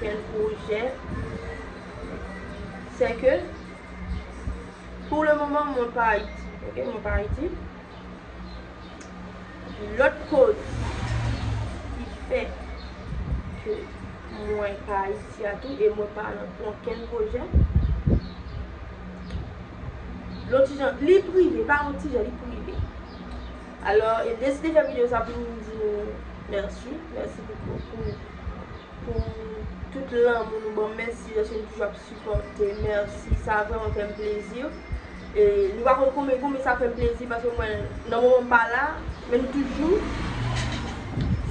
Quel projet c'est que pour le moment mwen pa Haïti, ok mwen pa Haïti. Lòt koz ki fè ke mwen pa Haïti a tou e mwen pa nan onkèn pwojè. Lon ti jan, li prive, pa yon ti jan, li prive. Alò e deside fè video sa pou m di nou merci, merci pou pou pou tout lanmou nou ban m, mèsi lèske nou toujou ap sipòte, mèsi sa vrèman fè m plezi e nou pa konn konbyen konbyen sa fè m plezi paske mwen nan moman m pa la men nou toujou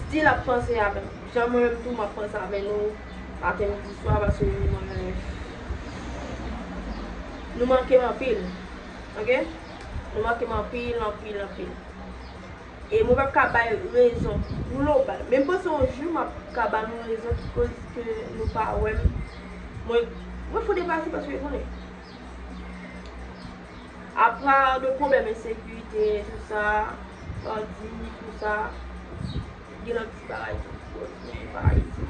still ap panse avè m jan mwen menm tou m ap panse avè nou maten midi swa paske mwen nou manke m anpil ok. Nou manke m anpil, anpil, anpil. E mwen pap ka bay rezon global. Men m panse yon jou m ap ka ba nou rezon ki koz ke nou pa wè m. Mwen, mwen fou deplase paske konnen. A part de pwoblèm ensekirite, tout sa, bandi, tout sa. Gen nan ti bagay tou ki bon ki gen paralize.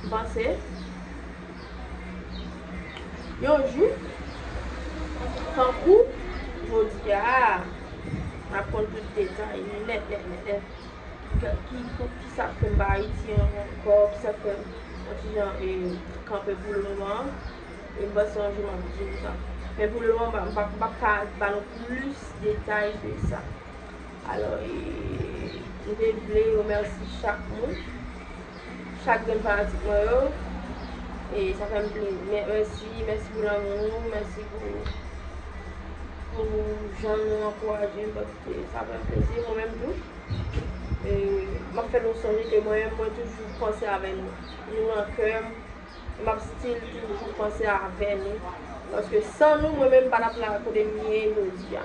M panse yon jou tankou jodi a n ap konn tout detay yo nèt nèt nèt nèt. Ki pou ki sa k fè m pa Ayiti ankò, ki sa k fè m yon ti jan kanpe pou le moman an. E m panse yon jou m ap di nou sa. Men pou le moman m pa ka ba nou plis detay de sa. Alò e m te vle remèsi chak moun, chak grenn fanatik mwen yo, e sa fè m plen, mèsi, mèsi pou lanmou nou, mèsi pou pou jan nou ankouraje m paske sa fè m plezi mwen menm tou, e m ap fè nou sonje ke mwen menm mwen toujou panse avè nou, nou nan kè m, e m ap still toujou panse avè nou, paske san nou mwen menm m pa t ap la kote m ye jodi a.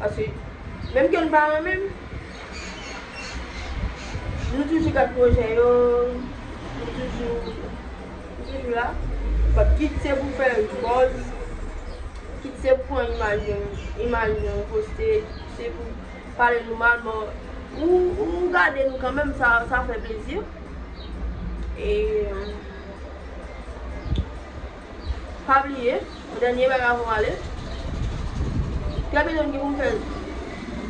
Paske menm ke nou pa renmen l, nou toujou gad pwojè yo, nou toujou, nou toujou la. But kit se pou fè yon buzz, kit se pou pran imaj yon, imaj yon poste, kit se pou pale nou mal, bon ou, ou gade nou kanmenm, sa, sa fè plezi. E. Pa bliye, yon dènye bagay avan w ale, Trè byento m gen pou m fè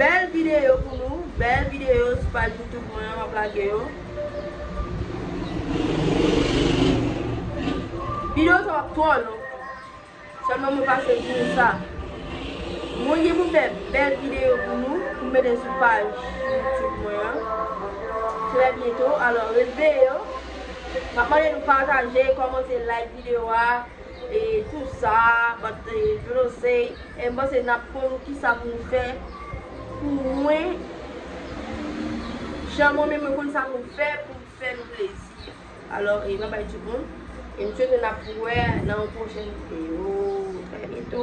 bèl videyo pou nou, bèl videyo sou paj YouTube mwen an, m ap lage yo. Videyo sa pa p twò long, sèlman mwen pase di nou sa, mwen gen pou m fè bèl videyo pou nou, pou m mete sou paj YouTube mwen an, trè byento, alò ret veye yo. Map mande nou pataje, kòmante, like video a e tout sa map di yo nou se e mpanse nap konn kisa pou nou fè pou mwen jan mwen menm mwen konn sa pou m fè poum fè nou plezi alò e babay tout moun e m swete nap wè nan yon pwochèn video trè byento.